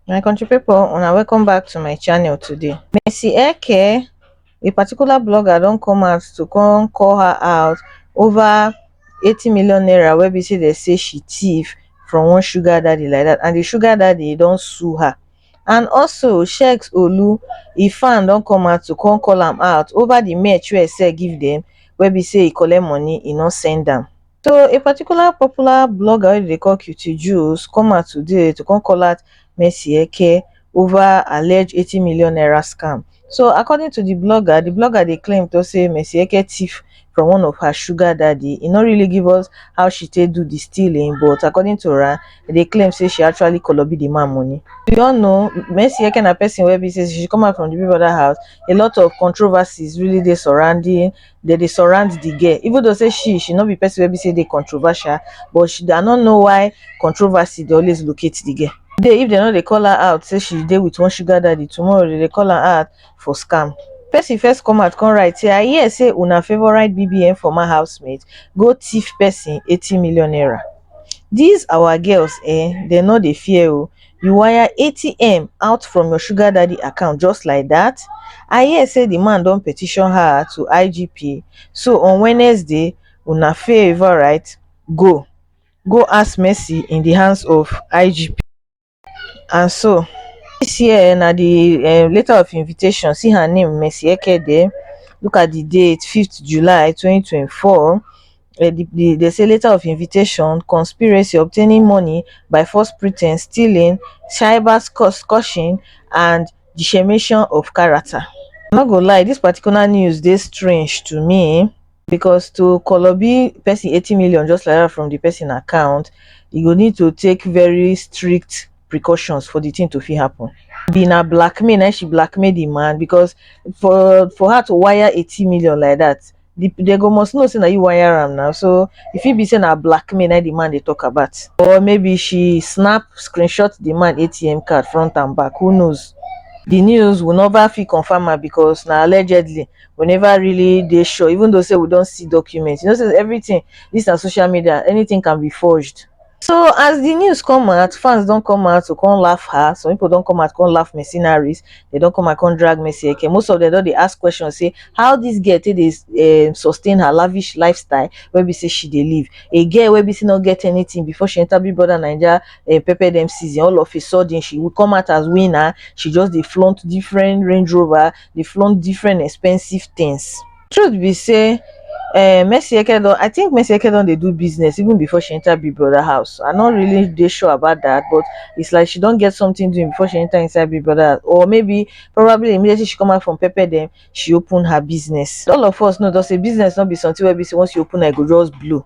my country people una welcome back to my channel today Mercy Eke a particular blogger don come out to come call her out over 80 million naira wey be say they say she thief from one sugar daddy like that and the sugar daddy don sue her and also sheikh olu ifan don come out to come call am out ova di merch wey e sell give dem wey be say e collect money e no send am. So a particular popular blogger wey dem dey call Cutie Jules come out today to come call out Mercy Eke ova alleged eighty million naira scam. So according to di blogger, di blogger dey claim to say Mercy Eke thief from one of her sugar daddy. E no really give us how she take do di stealing but according to her, e dey claim say she actually kolobi di man money. We all know Mercy Eke na person wey be say she come out from di Big Brother house, a lot of controversies really dey surrounding dem dey surround the girl even though say she she no be person wey be say dey controversial but she i no know why controversy dey always locate the girl today if dem no dey call her out say she dey with one sugar daddy tomorrow dem dey call her out for scam person first come out come write say i hear say una favourite bbn former housemate go thief person eighty million naira these our girls ehn dem no dey fear oo You wire atm out from your sugar daddy account just like dat? I hear say di man don petition her to IGP so on Wednesday una favour right go go ask mercy in di hands of IGP and so dis year na di um letter of invitation see her name Mercy Ekede look at di date fifth July twenty twenty four. dey say letter of invitation conspiracy obtaining money by false pretence stealing cyber scushing and defamation of character i no go lie this particular news dey strange to me because to koloby person eighty million just like that from the person account e go need to take very strict precautions for the thing to fit happen abi na blackmail na im she blackmail the man because for for her to wire eighty million like that the, they go must know say na you wire am now so if it be say na blackmail na the man they talk about or maybe she snap screenshot the man atm card front and back who knows the news will never feel confirm am because now allegedly we never really they sure even though say we don't see documents you know say everything this na social media anything can be forged So as the news come out, fans don't come out to come laugh her. Some people don't come out come laugh mercenaries. They don't come out come drag Mercy Eke. Most of them don't they ask questions say how this girl take dey um, sustain her lavish lifestyle where we say she dey live. A girl where we say not get anything before she enter Big Brother Nigeria uh, pepper them season. All of a sudden she will come out as winner. She just dey flaunt different Range Rover, they flaunt different expensive things. truth be say um mercy eke don i think mercy eke don dey do business even before she enter big brother house i no really dey sure about that but it's like she don get something doing before she enter inside big brother house or maybe probably immediately she come out from pepper dem she open her business all of us know just say business no be something wey be say once you open am e go just blow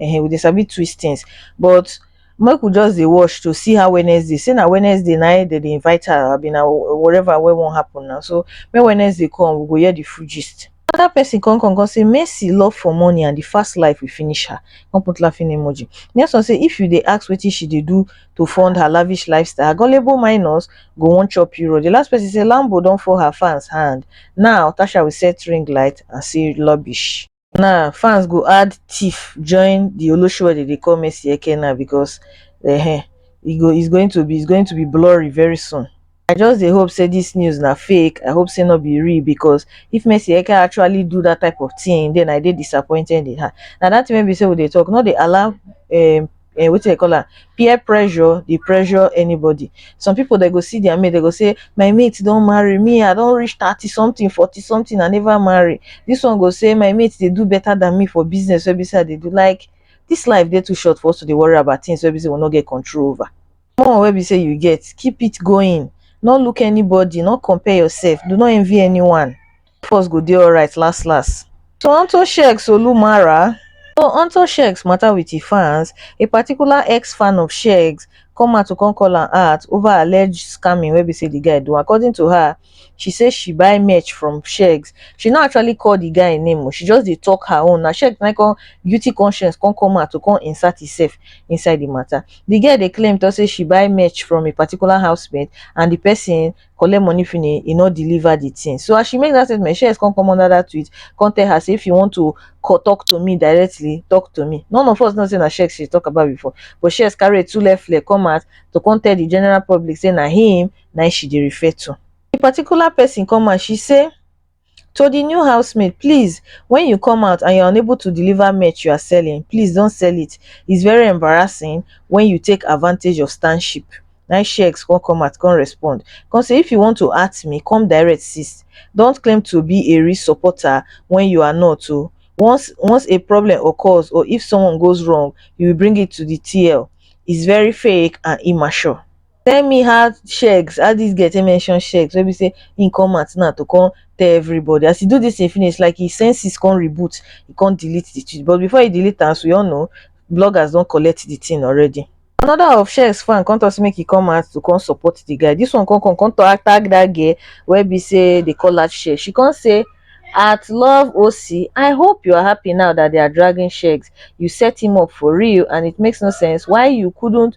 um we dey sabi twist things but make we just dey watch to see how Wednesday say na Wednesday na im dem dey invite her abi na whatever wey wan happen na so make Wednesday come we go hear the full gist. Another person come come come say Mercy love for money and the fast life will finish her come put laughing emoji. Next one say if you dey ask wetin she dey do to fund her lavish lifestyle her gullible minus go wan chop Euro. The last person say Lambo don fall her fans hand now Tasha will set ring light and say rubbish. na fans go add teef join di olosho wey dem dey call mercy eke now becos um e go is going to be is going to be blurry very soon i just dey hope say dis news na fake i hope say no be real becos if mercy eke actually do dat type of tin den i dey disappointed in her na dat tin wey be say we dey tok no dey allow um eh, wetin dey call am peer pressure dey pressure anybody some people dey go see their mate dey go say my mate don marry me i don reach thirty something forty something i never marry this one go say my mate dey do better than me for business wey be say i dey do like this life dey too short for us to dey worry about things wey be say we no get control over more wey be say you get keep it going no look anybody no compare yourself do not envy anyone of us go dey alright las las. To Anto Shek Solu Mara To Anto Shek's matter with his fans, a particular ex-fan of Shek's come out to come call am out over alleged scamming wey be say the guy do. According to her, she say she buy merch from Shek's. She no actually call the guy name o, she just dey talk her own. Na Shek na come guilty conscience come come out to come insert himself inside the matter. The girl dey claim talk say she buy merch from a particular housemate and the person collect money finish, e no deliver the thing. So as she make that statement, Shez come come under that tweet, come tell her say if you want to talk to me directly, talk to me. None of us know say na Shez she talk about before, but Shez carry two left leg come out to come tell the general public say na him na she dey refer to. The particular person come out, she say to the new housemaid please when you come out and you're unable to deliver merch you're selling please don't sell it it's very embarrassing when you take advantage of stan ship nai she ex con come out con respond con say if you want to at me come direct sis don't claim to be a real supporter when you are not o once once a problem occurs or if someone goes wrong you will bring it to the TL it's very fake and immature tell me how sheks how dis girl take mention sheks wey be say him come out now to come tell everybody as he do this thing finish like his senses come reboot he come delete the tweet but before he delete am as we all know bloggers don collect the thing already another of sheks fan come talk say make he come out to come support the guy this one come come come talk tag that girl wey be say they call her sheks she come say at love oc i hope you are happy now that they are dragging sheks you set him up for real and it makes no sense why you couldn't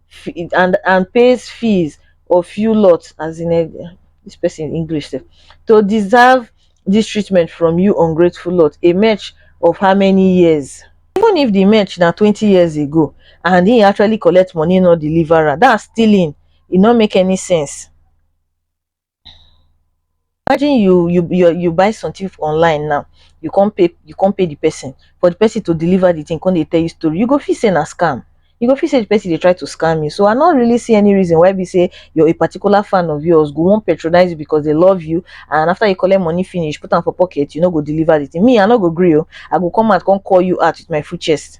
fi and and pays fees of few lots as in e this person English sef to deserve this treatment from you ungrateful lot a match of how many years even if the match na twenty years ago and he actually collect money no deliver am that's stealing e no make any sense. Imagine you you you you buy something online now, you come pay you come pay the person for the person to deliver the thing, come they tell you story. You go feel say na scam. You go feel say the person they try to scam you. So I not really see any reason why we say you're a particular fan of yours, go won't patronize you because they love you, and after you collect money finish, put them for pocket, you know go deliver the thing. Me, I not go agree. oh. I go come out, come call you out with my full chest.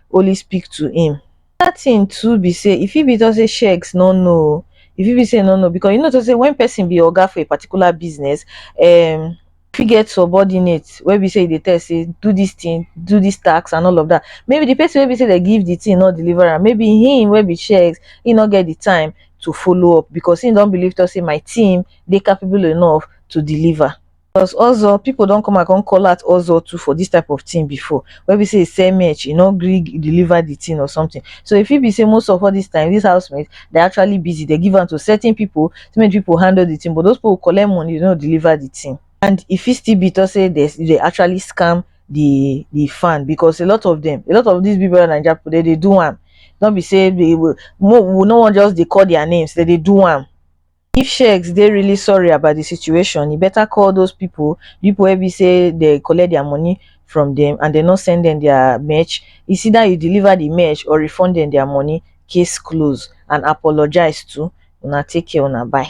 only speak to him. Another thing too be say e fit be talk say sheiks no know o, e fit be say e no know because you know talk say when person be oga for a particular business, um, e fit get subordinate wey be say e dey tell say do this thing, do this task and all of that. Maybe the person wey be say dem give the thing no deliver am, maybe him wey be sheiks, he no get the time to follow up because he don believe talk say my team dey capable enough to deliver. Plus ozo people don come and come call out ozo too for this type of thing before wey be say e sell merch e no gree deliver the thing or something so e fit be say most of all this time this housemate they actually busy they give am to certain people so make people handle the thing but those people collect money they no deliver the thing and e fit still be to say they they actually scam the the fan because a lot of them a lot of these big brother naija people they dey do am no be say they will we no wan just dey call their names they dey do am if sheikhs dey really sorry about the situation e better call those people the people wey be say dey collect their money from them and dem no send dem their mech is either you deliver the mech or refund dem their money case closed and apologize too una take care una bye